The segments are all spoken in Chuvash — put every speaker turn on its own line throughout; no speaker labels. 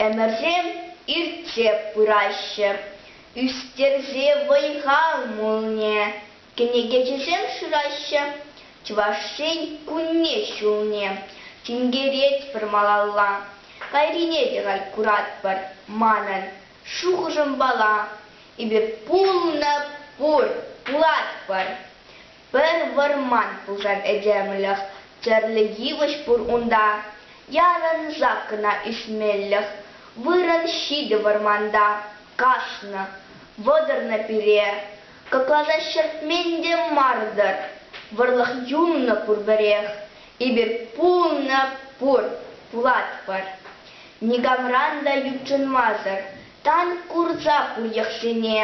Ӗмӗрсем иртсе пыраҫҫӗ, ӳстерсе вӑй-хал мулне кӗнекеҫӗсем шыраҫҫӗ. Чӑваш Ен кунне ҫулне тинкеретпӗр малалла, кайрине те кай куратпӑр манӑн. Шухӑшӑмпала, эпир пулнӑ пур, пулатпӑр. Пӗр вӑрман пулсан этемлӗх тӗрлӗ йывӑҫ пур унта. Ярӑнсах кӑна ӳсмелӗх вырӑн ҫитӗ вӑрманта. Каснӑ, вӑтӑрнӑ пире кӑкласа ҫӗртмен те мар-тӑр. Вӑрлӑх юлнӑ пурпӗрех. Эпир пулнӑ пур, пулатпӑр. Никамран та ютшӑнмасӑр тан курса пур йӑхсене.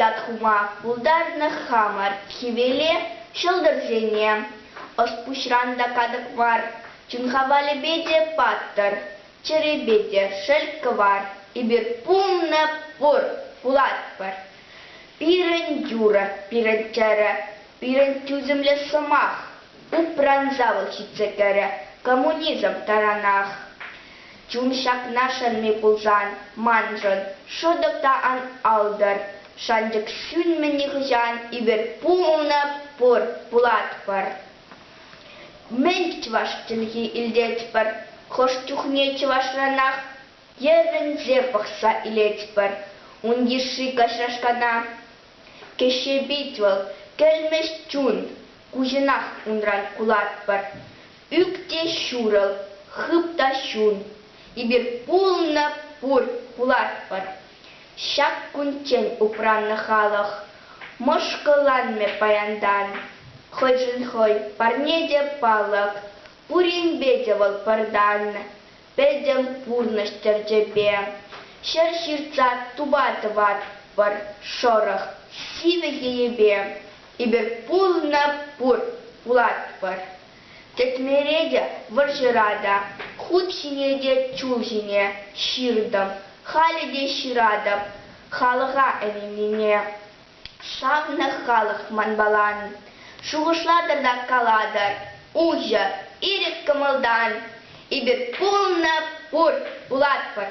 Ят хума пултарнӑ хамӑр хӗвеле, ҫӑлтӑрсене. Ӑс-пуҫран та катӑк мар, чун хавалӗпе те паттӑр, чӗрепе те шел кӑвар. Эпир пулнӑ пур, пулатпӑр. Пирӗн юрӑ, пирӗн тӗрӗ, пирӗн тӳсӗмлӗ сӑмах, Упран шавлӑх ҫитсе кӗрӗ. Коммунизм таранах чун ҫакна шанми пулсан, маншӑн шӑтӑк та ан алтӑр. Шанчӑк сӳнмӗ нихӑҫан, эпир пулнӑ пур, пулатпӑр. Мӗн чӑваш чӗлхи илтетпӗр, хӑш чухне чӑвашранах йӗрӗнсе пӑхса илетпӗр ун йышши каҫрашкана. Кӗҫҫе пит вӑл, кӗлмӗҫ чун, куҫӑнах унран кулатпӑр. Ӳк те ҫурӑл, хып та ҫун, эпир пулнӑ пур пулатпӑр. Ҫак кунччен упраннӑ халӑх мӑшкӑлланмӗ паянтан. Хӑйшӗн хӑй, парне те палӑк, пуринпе те вӑл пӑртан. Пӗтӗм пурнӑҫ тӗрчепе ҫӗр ҫыртса тупа тӑватпӑр. Шӑрӑх сивӗ йӗйепе эпир пулнӑ пур пулатпӑр. Кӗтмере те, вӑрҫӑра та, хут ҫине те чул ҫине ҫыртӑм, халӗ те ҫыратӑп халӑха ӗненнине. Шаннӑ халӑх манпала шухӑшлатӑр та калатӑр, уҫӑ, ирӗк кӑмӑлтан эпир пулнӑ пур, пулатпӑр.